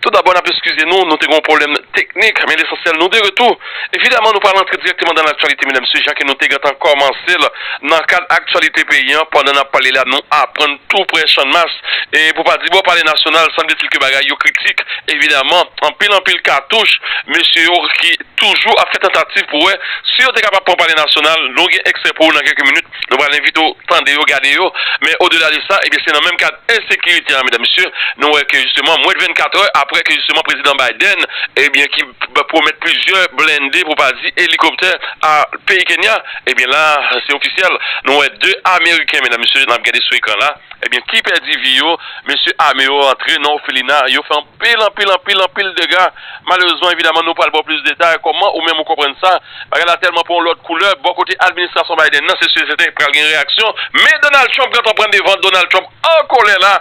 Tou dabò nap eskize nou, nou te gen yon pwoblèm teknik, men lesansyèl nou de retou. Evidaman nou pral antre dirèkteman dan laktyalite medam mesye jan ke nou te gentan kòmansel nan kad aktyalite peyi an pandan nap pale la nou aprann tou prè channmas e pou pa di bò pale nasyonal sanbletil ke bagay yo kritik evidaman anpil anpil katouch mesye yo ki toujou ap fè tantativ pou wè si yo te kapab pran pale nasyonal nou gen ekstrè pou ou nan kèlke minit. Nou pral envite w tande yo, gade yo. Men odela de sa, ebyen se nan menm kad ensekirite a medam mesye, nou wè ke jisteman mwen de 24 è aprè ke jisteman prezidan Biden ebyen ki pwomèt plizyè blende pou pa di elikoptè a peyi Kenya, ebyen la se ofisyèl nou wè 2 ameriken medam mesye nap gade sou ekran la ebyen ki pèdi vi yo. Mesye ame yo rantre nan ofelina, yo fè anpil anpil anpil anpil dega malerezman evidaman nou pral ba w plis detay kòman ou menm ou konprann sa. Bagay la tèlman pran yon lòt koulè, bò kote administrasyon Biden nan se sèten pral gen reyaksyon, men Donald Trump gentan pran devan, Donald Trump an kolè la,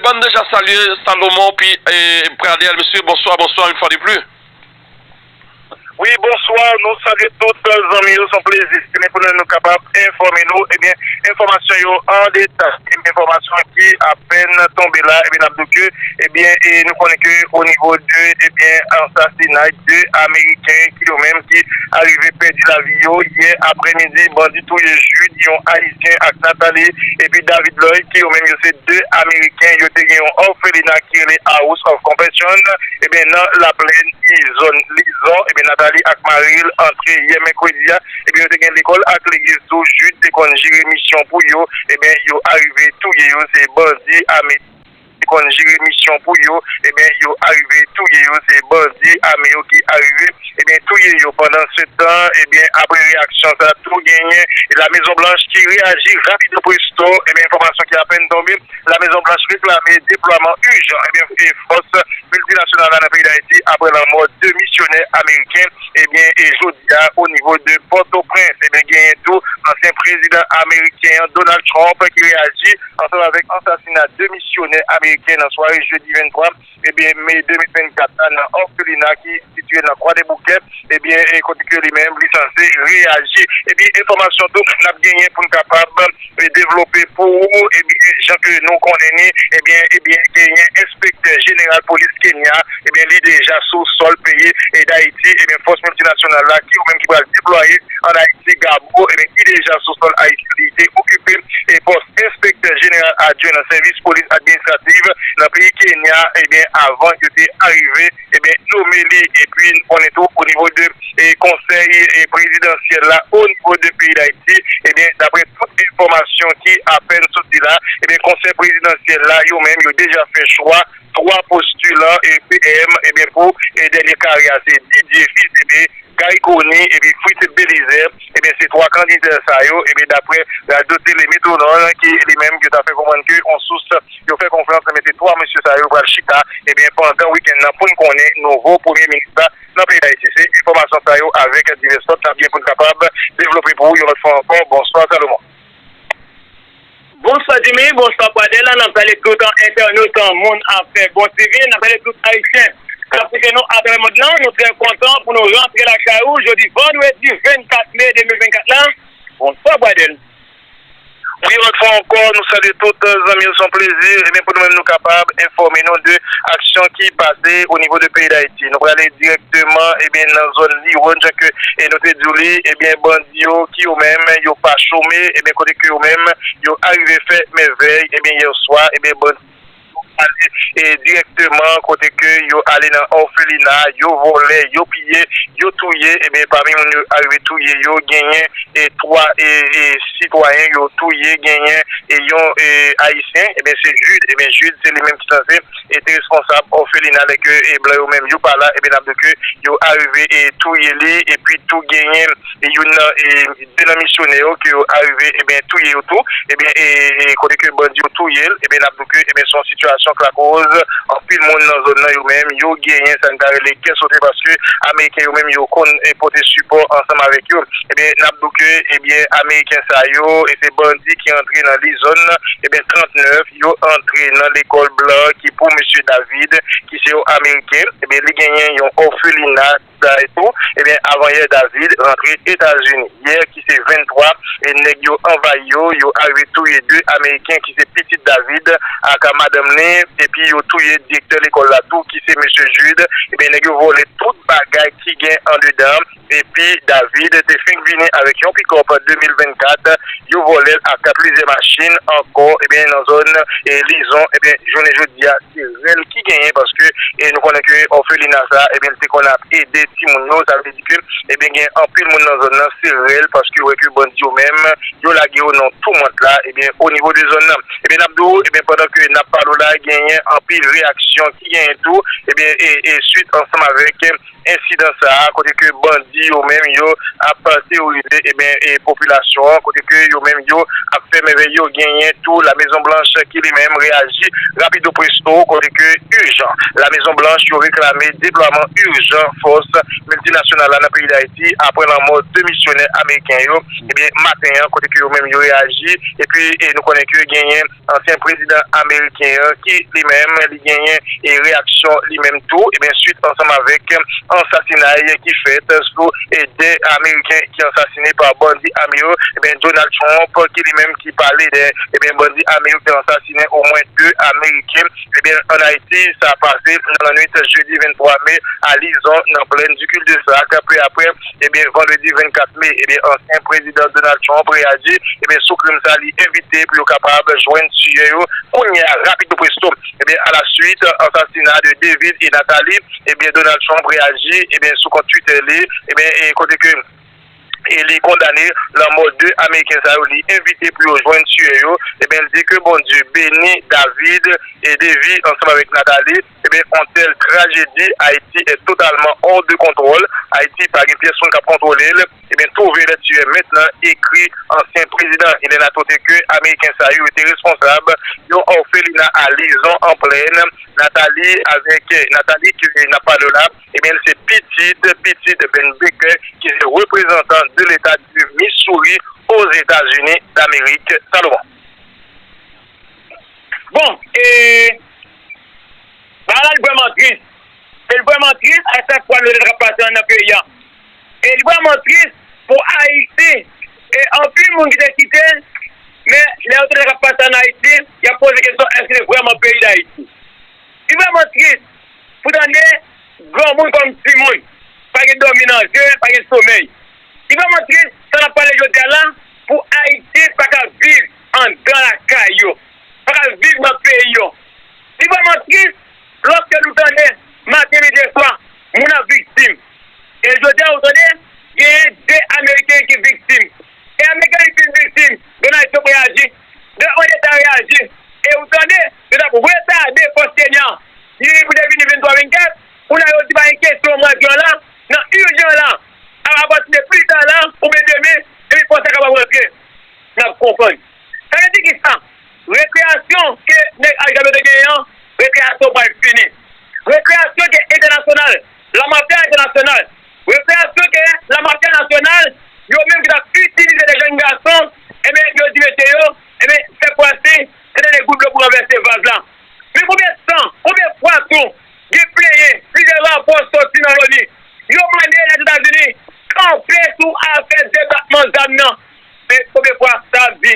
bann deja salye Salomon pi Pradel mesye bonswa bonswa une fois de plus. Wi bonswa nou salye tout zanmi yo son plezi se men pou nou kapab enfòme nou ebyen enfòmasyon yo an deta. Enfòmasyon ki apèn tonbe la ebyen nap di ke ebyen nou konnen ke o nivo de ebyen ansasinay 2 ameriken ki yo menm ki arive pèdi lavi yo yè aprè midi bandi touye Jude yon ayisyen ak Nathalie epi David Lloyd ki yo menm yo se 2 ameriken yo te gen yon òfelina ki rele House of Compassion ebyen nan laplèn izòn Lison ebyen Nathalie ak maril antre yè mèkredi a. Ebyen yo te gen lekol ak legiz tou Jude te konn jere misyon pou yo ebyen yo arive touye yo se bandi ame te konn jere misyon pou yo ebyen yo arive touye yo se bandi ame yo ki arive ebyen touye yo pandan se tan ebyen apre reyaksyon sa tou genyen la mezon blanch ki reyaji rapido presto ebyen enfòmasyon ki apèn tonbe la mezon blanch reklame deplwaman ijan ebyen fòs miltinasyonal la nan peyi dayiti apre lanmò 2 misyonè ameriken. Ebyen e jodi a o nivo de Pòtoprens ebyen genyen tou ansyen prezidan ameriken an Donald Trump ki reyaji ansanm avèk ansasina 2 misyonè ameriken nan sware jedi 23 ebyen me 2024 la nan òfelina ki sitye nan Kwadèboukè ebyen e kote ke li menm li sanse reyaji ebyen enfòmasyon tou nap genyen poun kapab te devlope pou ou ebyen jan ke nou konnen ni ebyen ebyen genyen enspektè jeneral polis Kenya ebyen li deja sou sòl peyi Dayiti ebyen fòs miltinasyonal la ki ou menm ki pral deplwaye an Ayiti Gabo ebyen ki deja sou sòl Ayiti li te okipe e pòs enspektè jeneral adjwen nan sèvis polis administrativ nan peyi Kenya ebyen avan yo te arive ebyen nome li epi nou konnen tou o nivo de konsèy prezidansyèl la o nivo de peyi dayiti ebyen daprè tout enfòmasyon ki apèn soti la ebyen konsèy prezidansyèl la yo menm yo deja fè chwa 3 postilan PM ebyen pou dènye kare a se Didier fils aimé Garry Conille epi Fritz Belizaire. Ebyen se 3 kandida sa yo ebyen daprè radyo tele Metro Nord ki li menm yo ta fè konprann ke yon sous yo fè konfyans ebyen se 3 mesye sa yo pral chita ebyen pandan wikenn nan poun konnen nouvo premye minis la nan peyi Dayiti. Se enfòmasyon sa yo avèk divès lòt nap gen poun kapab devlope pou ou yon lòt fwa ankò. Bonswa Salomon. Bonswa Jimmy, bonswa Pradel, nan ap salye tout entènot moun afè bon TV, nan ap salye tout ayisyen kap koute nou atravè mond lan, nou trè kontan pou nou rantre lakay ou jodi vandredi 24 me 2024 la, bonswa Pradel. Wi yon lòt fwa ankò nou salye tout zanmi yo se yon plezi ebyen pou nou menm nou kapab enfòme nou de aksyon ki pase o nivo de peyi dayiti nou prale dirèkteman ebyen nan zòn liwòn jan ke nou te diw li ebyen bandi yo ki yo menm yo pa chome ebyen kote ke yo menm yo arive fè mèvèy ebyen yèswa ebyen bandi yo ale dirèkteman kote ke yo ale nan òfelina yo vòlè yo piye yo touye ebyen pami moun yo arive touye yo genyen 3 sitwayen yo touye genyen yon ayisyen ebyen se Jude ebyen Jude se li menm ki sanse e te responsab òfelina lè ke blan yo menm yo pa la ebyen nap diw ke yo arive e touye li epi tou genyen youn nan e 2 nan misyonè yo ke yo arive ebyen touye yo tou ebyen e kote ke bandi yo touyel ebyen nap diw ke ebyen son sitiyasyon k lakoz anpil moun nan zòn nan yo menm yo genyen sa n ta rele kè sote paske ameriken yo menm yo konn e pote sipò ansanm avèk yo ebyen nap diw ke ebyen ameriken sa yo e se bandi ki antre nan li zòn ebyen 39. yo antre nan lekòl blan ki pou Mesye David ki se yon ameriken ebyen li genyen yon òfelina sa etou ebyen avanyè David rantre etazini yè ki se 23 e nèg yo anvayi yo yo arive touye 2 ameriken ki se pitit David ak madanm li epi yo touye direktè lekòl la tou ki se Mesye Jude ebyen nèg yo vòlè tout bagay ki gen andedan. Depi David te fenk vini avèk yon pick up 2024, yo vòlèl ak plizyè machin ankò ebyen nan zòn lizon ebyen jounen jodia se rèl ki genyen paske nou konnen ke òfelina sa ebyen te konn ap ede timoun yo sa vle di ke ebyen gen anpil moun nan zòn nan se rèl paske yo wè ke bandi yo menm yo lage yo nan toumant la ebyen o nivo de zòn nan ebyen nap di w ebyen pandan ke nap pale w la genyen anpil reyaksyon ki genyen tou ebyen e swit ansanm avèk. ensidan sa a kote ke bandi yo menm yo ap teworize eben popilasyon an kote ke yo menm yo ap fè mèvèy yo genyen tou la mezon blanch ki li menm reyaji rapido presto kote ke ijan la mezon blanch yo reklame deplwaman ijan fòs miltinasyonal la nan peyi dayiti apre lanmò 2 misyonè ameriken yo eben maten an kote ke yo menm yo reyaji epi nou konnen ke genyen. Ansyen prezidan ameriken an ki li menm li genyen e reyaksyon li menm tou ebyen swit ansanm avèk ansasinay ki fèt sou 2 ameriken ki ansasine pa bandi ame yo ebyen Donald Trump ki li menm ki pale de ebyen bandi ame yo ki ansasinen omwen 2 ameriken. Ebyen an Ayiti, sa pase nan lannwit jedi 23 me a Lizon nan plèn di Kildesak. Peu aprè, ebyen vandredi 24 me, ebyen ansyen prezidan Donald Trump reyaji, ebyen sou krim sa li evite pou yo kapab jwenn tiyè yo kounye a rapido presto. Ebyen a la swit ansasina de David et Natalie, ebyen Donald Trump reyaji, ebyen sou kont Twitter li, ebyen e kote ke. e li kondane lanmò 2 ameriken sa yo, li envite pou yo jwenn tiyè yo, ebyen li di ke Bondye beni David et Davy ansanm avèk Nathalie, ebyen on telle tragedie Haïti est totalement hors de contrôle, Haïti pa gen pyès moun kap kontwole l, ebyen trouvez les tueurs maintenant ekri ansyen prezidan il en a tote ke ameriken sa yo te responsab yon orphelinat a Lison en plaine Nathalie avèk Nathalie ke nap pale w la. Ebyen l se pitit pitit Ben Baker ki se reprezantan de leta du Missouri Ozetazini Damerik Salomon. Bon e bagay la li vrèman tris e li vrèman tris a chak fwa nou li ta pase nan peyi an e li vrèman tris pou Ayiti e anpil moun ki te kite men lè yo tande sa k ap pase an Ayiti y ap poze kesyon èske se vrèman peyi Dayiti. Li vrèman tris pou tande granmoun kòm timoun pa gen dòmi nan je, pa gen somèy. Li vrèman tris sa n ap pale jodi a la pou Ayisyen pa ka viv andan lakay yo, pa ka viv nan peyi yo. Li vrèman tris lòske nou tande maten, midi e swa moun ap viktim. E jodi a ou tande genyen 2 ameriken ki viktim. E ameriken yo fin viktim Donald Trump reyaji, 2 odeta reyaji e ou tande Se t ap retade fòs Kenya li pou te vini 23 24, kounye a yo di pa gen kesyon mwa Jen la nan urjan la apati de pli ta la oubyen demen epi fòs la kapab rantre n ap konprann sa vle di kisa rekreyasyon ke nèg Al Jaber te genyen an rekreyasyon pral fini rekreyasyon ke entènasyonal la mafya entènasyonal rekreyasyon ke la mafya nasyonal yo menm ki t ap itilize de jenn gason enben yo di mesye yo enben sètfwasi. Sa te de gout dlo pou ranvèse vaz la. Men konbyen tan, konbyen fwa tou gen plenyen, plizye rapò soti nan Loni. Yo mande Lèzetazini kanpe sou afè debakman zam nan. Men konbyen fwa sa ap di?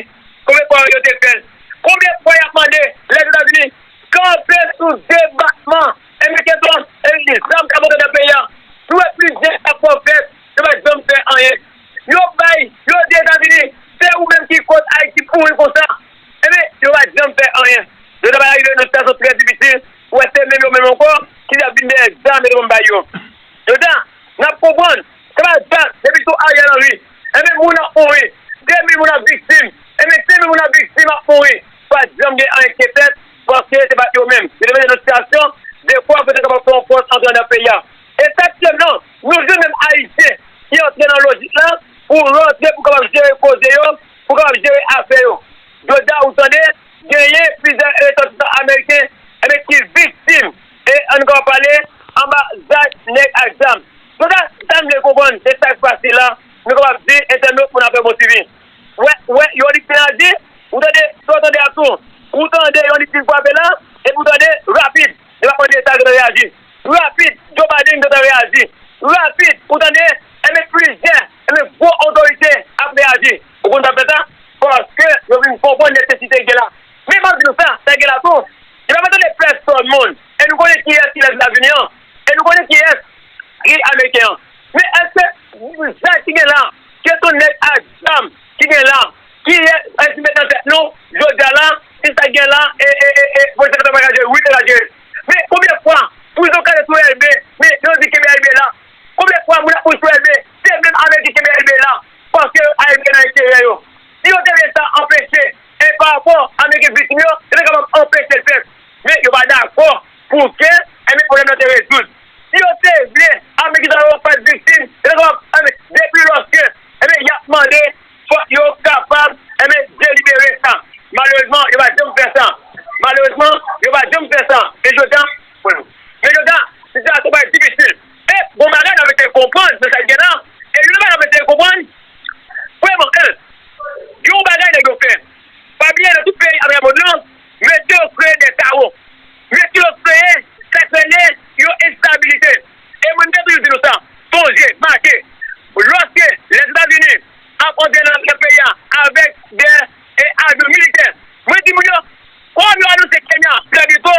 Konbyen fwa yo te fè l? Konbyen fwa y ap mande Lèzetazini kanpe sou debakman e mete to zam kap antre nan peyi a? Nou wè plizye rapò fèt, yo pa janm fè anyen. Yo bay, yo di Etazini, se ou menm ki koz Ayiti pouri konsa. Enben, yo pa janm fè anyen. Yo ta pral rive nan yon sitiyasyon trè difisil pou wè se menm yo menm ankò ki ta vin dèyè zam yo te konn bay yo. Yo ta, n ap konprann, sa pa dat depi sou Ariel Henry. Enben, moun ap mouri. 2 mil moun ap viktim. Enben, 5 mil moun ap viktim, ap mouri. Pa t janm gen anyen ki te fèt paske se pa t yo menm. Yo te mete nan sitiyasyon dekwa pou yo te kapab fè yon fòs antre anndan peyi a. E setyèm nan, nou jwenn menm Ayisyen ki antre nan lojik la pou rantre pou kapab jere koze yo. Pou kapab jere afè yo. Jodha ou tande, genyen plizyè resòtisan ameriken enben ki viktim e an nou kapab pale anba zak nèg ak zam. Jodha sa m vle konprann de sak pase la nou kapab di entènot pou n apre bon swivi. Wè wè yon lit fin aji ou tande sa w tande a tou. Ou tande yon lit fin fwape la epi ou tande rapid li pa mande sa l gentan reyaji. Rapid, Joe Biden gentan reyaji. Rapid, ou tande, enben plizyè, enben gwo otorite ap reyaji. Ou konn sa k fè sa? Paske yo vin konprann nesesite ki gen la. Men m ap di nou sa, sa gen la tou, li pa fè tande pèsòn moun. E nou konnen kiyès ki lè ki ap vini an. E nou konnen kiyès ki ameriken an. Men èske zak ki gen la, kesyon nèg ak zam ki gen la, kiyès ki met nan tèt nou jodi a la, si sa k gen la e, e, e, e, polisye kapab al jere l? Wi, yo ka jere l. Men konbyen fwa pou zo kale sou elbe men yo di kenbe elbe la konbyen fwa moun ap mouri sou elbe se menm avèk di kenbe elbe la paske yo a elbe nan enterè yo si yo te vle sa anpeche e pa rapò avèk gen viktim yo yo te kapab anpechel fèt men yo pa dakò pou ke enben pwoblèm nan te rezoud si yo te vle avèk gen sa yo pat viktim yo te kapab anben depi lòske enben yap mande. Fòk yo kapab enben delibere sa. Malerezman yo pa janm fè sa. Malerezman yo pa janm fè sa. E jodi a, men jodi a sitiyasyon parèt difisil. E gon bagay n ap eseye konprann nan sa ki gen la. E youn nan bagay n ap eseye konprann, premyèman, 1, gen yon bagay nèg yo fè. Pa bliye nan tout peyi atravè mond lan, mesye yo kreye de kawo. Mesye yo kreye sa k rele yon enstabilite. E mwen m te toujou di nou sa, sonje, make, lòske Lèzetazini ap antre nan peyi a avèk de avyon militè, mwen di moun yo, kòm yo anonse Kenya pran Biko,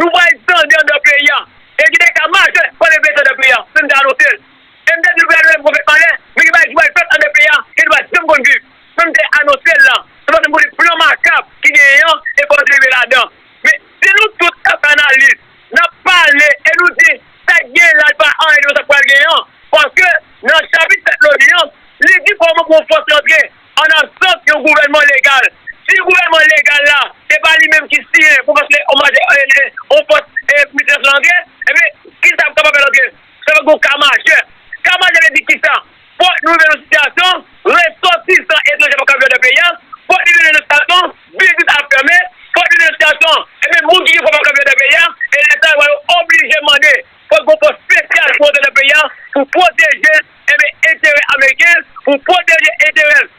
nou pral tande anndan peyi a, e gen de ka majè k pral reveye anndan peyi a, se m te anonse l. E m te di nou gade lè pwofèt pale, men gen bagay ki pral fèt anndan peyi a ke nou pa janm konn viv. Sa m te anonse l la, se paske m konnen plan makab ki genyen an e fòk nou te rive ladan. Men, si nou tout t ap fè analiz, Nap pale e nou di sa ki genyen la li pa anyen de nou sa ki pral genyen an, paske nan chapit 7 loni an, li di kòman pou yon fòs rantre an absans yon gouvènman legal. Si gouvènman legal la se pa li menm ki siyen pou fòs yon fòs miltinasyonal antre, ebyen kisa pou kapab fè l antre? Sa va gen yon ka majè. Ka majè vle di kisa? Fòk nou rive nan sitiyasyon, resòtisan etranje pa ka viv anndan peyi a, fòk li rive nan sitiyasyon, biznis ap fèmen, fòk li rive nan sitiyasyon, ebyen moun ki gen fon pa ka viv anndan peyi a, e lè sa rive yo oblije mande fòk gen yon fòs spesyal pou rantre nan peyi a pou pwoteje, ebyen enterè ameriken, pou pwoteje enterè l.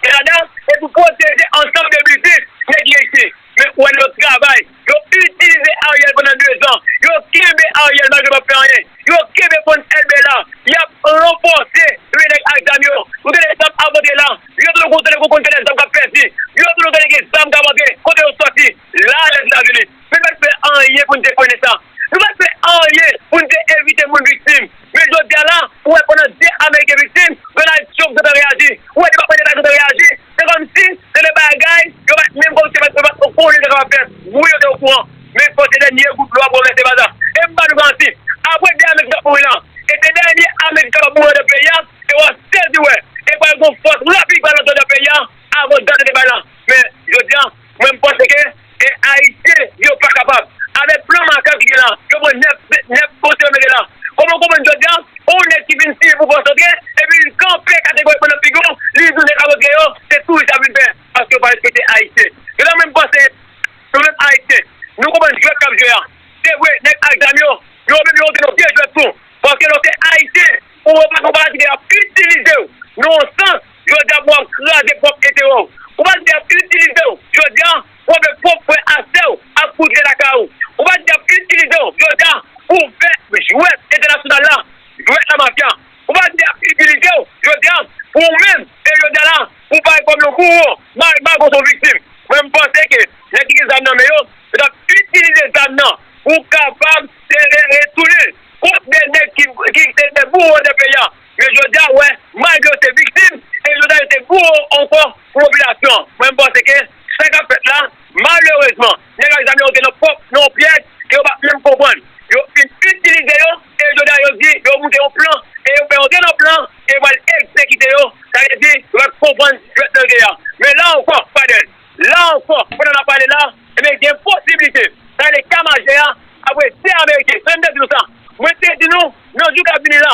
e ladan e pou pwoteje ansanm de biznis nèg lese men pou wè yo travay yo itilize Ariel pandan 2 zan yo kenbe Ariel malgre pap fè anyen yo kenbe fon elbe la yap ranfòse premye nèg ak zam yo ou tande zam ap rantre la vye tolo gon tande gon konn tande zam kap pèdi vye tolo tande gen zam kap rantre kote yo sòti la lèzitazini. Nou pa t fè anyen pou n te konesan. Nou pa t fè anyen pou n te evite moun viktim. Men jodi a la, ou wè pandan 2 ameriken viktim, Donald Trump gentan reyaji. Ou wè Depatman Deta gentan reyaji. Se kòmsi se 2 bagay yo pa t menm kòmsi yo pa t o kouran yo te kapab fè. Wi yo te o kouran. Men fòk se dènye gout dlo a pou ranvèse vaz la. E m ba nou garanti, apre 2 ameriken ap mouri lan, e se dènye ameriken kapab mouri anndan peyi a, e w a sezi wè, e pral gon fòs rapid ki pral antre anndan peyi a avan dat yo te bay lan. Men jodi a. Mwen m panse ke e ayisyen yo pa kapab avek plan Marca ki gen la yo pran 9 9 poste yo mete la koman w konprann jodya on neg ki vin siye pou fòs antre epi li kanpe kategorikman nan figiw li di neg alantre yo se touris yap vin fè paske yo pa respekte ayisyen yo la mwen m panse nou menm ayisyen nou konprann jwèt kap jwe a se vre neg ak zam yo yo menm yo antre nan vye jwèt tou paske lè w se ayisyen ou wè w pa konn pa la ki de yap itilizew nan on sans. Jodia pou wap kraze pwop enterè w. Ou pat vle yap itilize w jodia pou fè pwop frè a sè w ak kouzin lakay ou. Ou pat vle yap itilize w jodia pou fè jwèt entènasyonal la, jwèt la mafya. Ou pat vle yap itilize w jodia pou ou menm e jodia la pou pare kòm yon bouwo. Mal bago son viktim. Mwen m panse ke nèg ki gen zam nan men yo, yo tap itilize zam nan pou kapab retounen kont de nèg ki se de bouwo de peyi a. Men jodi a wè malgre yo te viktim e jodi a yo te bouwo ankò pou popilasyon an. Mwen panse ke sa kap fèt la malerezman nèg ak zam yo antre nan pwòp nan yon pyèj ke yo pa menm konprann. Yo fin itilize yo e jodi a yo di yo moute yon plan e yo fè antre nan plan e yo pral egzekite yo. Sa vle di yo pat konprann jwèt nan yo te ye a. Men la ankò Fadel, la ankò pandan nap pale la ebyen gen posiblite sa rele K majè a ap rete ameriken. Sa vle m te di nou sa? Mwen te di nou nan jou kap vini la.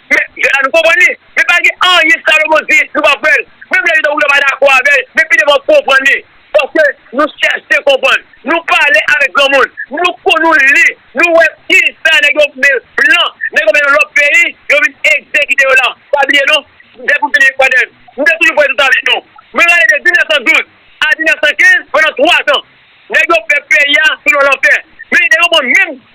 Men, jèn la nou konprann li, men pa gen anyen Salomon di nou pa kwè l, menm lè li ta wè nou ta pa dakò avè l, men pi devan nou konprann li, paske nou chèche konprann, nou pale avèk granmoun, nou konn nou li, nou wè ki sa nèg yo men blan, nèg yo men yon lòt peyi, yo vin egzekite yo la, pa bliye non, depi m fin Ekwatè, m te toujou pale tout sa avèk nou, mwen rale de 1912 a 1915, pandan 3 zan, nèg yo fè peyi a selon lanfè, men li te konprann menm.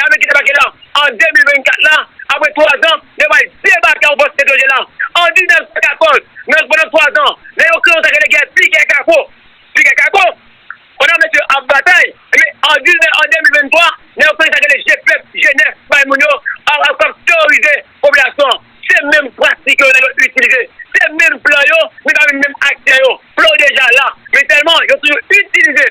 Lame ki debake la an 2024 la apre 3 zan yo pral debake an fòs Sent Ojen la an 1914 nan pandan 3 zan nan yon klan sa rele gè pikè kako pikè kako pandan mesye yo ap batay ebyen an 2023 nan yon klan sa rele je pèp je nèf bay moun yo ap ap teworize popilasyon an se menm pratik yo nèg yo itilize se menm plan yo men pa menm aktè yo plan yo deja la men sèlman yo toujou itilize.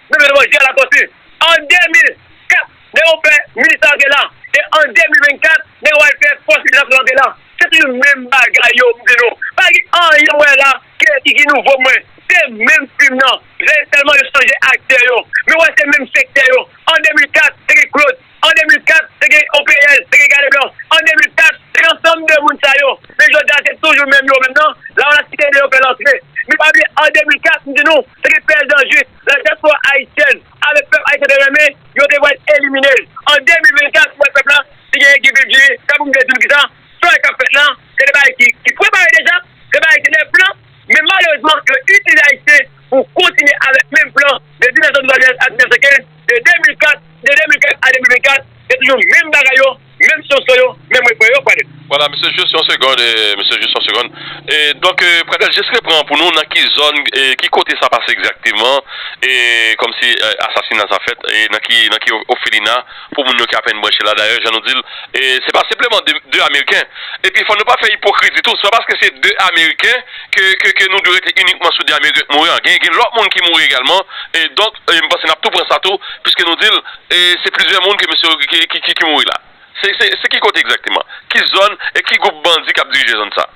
Mete devan je a Latortue. An 2004, nèg yo fè milis la antre la. E an 2024, nèg yo al fè fòs migrasyon antre la. Se toujou menm bagay yo mntre nou. Pa gen anyen mwen wè la ke ki ki nouvo pou mwen. Se menm fim nan. Sèlman yo chanje aktè yo. Men wè se menm sektè yo. An 2004, te gen Claude. An 2004, te gen OPL, te gen Gade Blan. An 2004, se yon sanm de moun sa yo. Men jodi a, se toujou menm yo menm nan. Lavalas ki te ede yo fè lantre. Men pa bliye an 2004, m di nou, te gen P. L. Jean-Juste, la diaspora haïtienne, avèk pèp ayisyen te renmen, yo te pral elimine l. An 2024, m wè pèp la, si genyen ki vil jiri, tanpri m vle di nou kisa? Strike kap fèt la, se de bagay ki prepare deja, se bagay ki nan plan, men malerezman yo itilize Ayisyen pou kontinye avèk menm plan de 1972 a 1915, de 2004, de 2004 a 2024, se toujou menm bagay yo, menm sosò yo, menm refren yo, Pradel. Vwala mesye jis yon segond mesye jis yon segond e donk Pradel jis repran pou nou nan ki zòn e ki kote sa pase egzakteman e kòmsi asasina sa fèt e nan ki nan ki ofelina. Pou moun yo ki apèn branche la, dayè jan nou di l, se pa senpleman de ameriken. Epi fò nou pa fè ipokrizi tou, se pa paske se de ameriken ke nou dwe rete inikman sou de ameriken k mouri an. Gen lòt moun ki mouri egalman. Donk m panse n ap tou pran sa tou, piske nou di l se plizyè moun ke mesye yo ki mouri la. Se ki kote egzakteman? Ki zòn? E ki gwoup bandi k ap dirije zòn sa?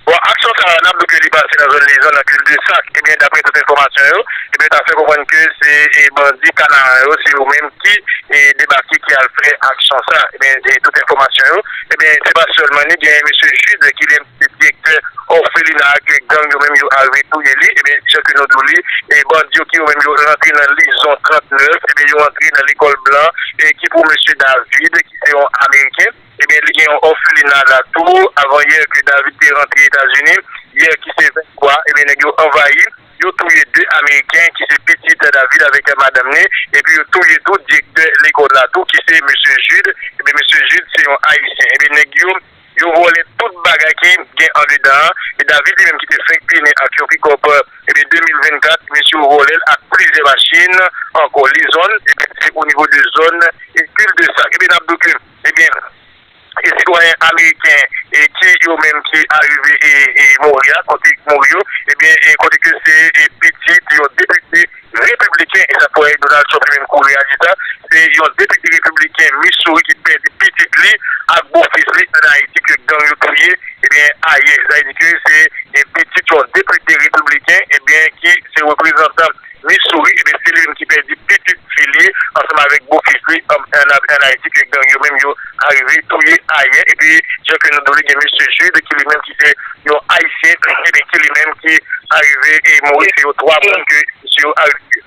Bon aksyon sa a n ap di ke li pase nan zòn Lizan nan klib de sak ebyen daprè tout enfòmasyon yo ebyen ta fè konprann ke se bandi kanaran yo se yo menm ki debake ki al fè aksyon sa ebyen e tout enfòmasyon yo ebyen se pa sèlman ni gen mesye Jude ki li se direktè òfelina a ke gang yo menm yo arive touye li ebyen jan ke nou di w li e bandi yo ki yo menm yo rantre nan Lizon 39 ebyen yo rantre nan lekòl blan e ki pou mesye David ki se yon ameriken. Ebyen li gen yon òfelina la tou avan yè ke David te rantre Etazini yè ki se 23 ebyen nèg yo anvayi yo touye 2 ameriken ki se pitit David avèk madanm ni epi yo touye tou direktè lekòl la tou ki se mesye Jude ebyen mesye Jude se yon ayisyen ebyen nèg yo yo vòlè tout bagay ki gen andedan an e David li menm ki te fenk pi nen ak yon pikòp ebyen 2024 mesye yo vòlèl ak plizyè machin ankò lizon ebyen se onivo de zòn e kildesak ebyen nap do ke. Ebyen e sitwayen ameriken ki yo menm ki arive e mouri a kote ki mouri yo ebyen e kote ke se e pitit yon depite repibliken e sa k fè Donald Trump li menm kou reyaji sa se yon depite repibliken Missouri ki pèdi pitit li ak bo fis li an Ayiti ke gang yo touye ebyen ayè sa vle di ke se e pitit yon depite repibliken ebyen ki se reprezantan. Missouri, ebyen se li menm ki pèdi pitit fi li ansanm avèk bofis li an Ayiti ke gang yo menm yo arive touye ayè epi jan ke nou di w li gen Mesye Jude ki li menm ki se yon Ayisyen ebyen ki li menm ki arive mouri se yo 3 moun ke misye yo arive touye.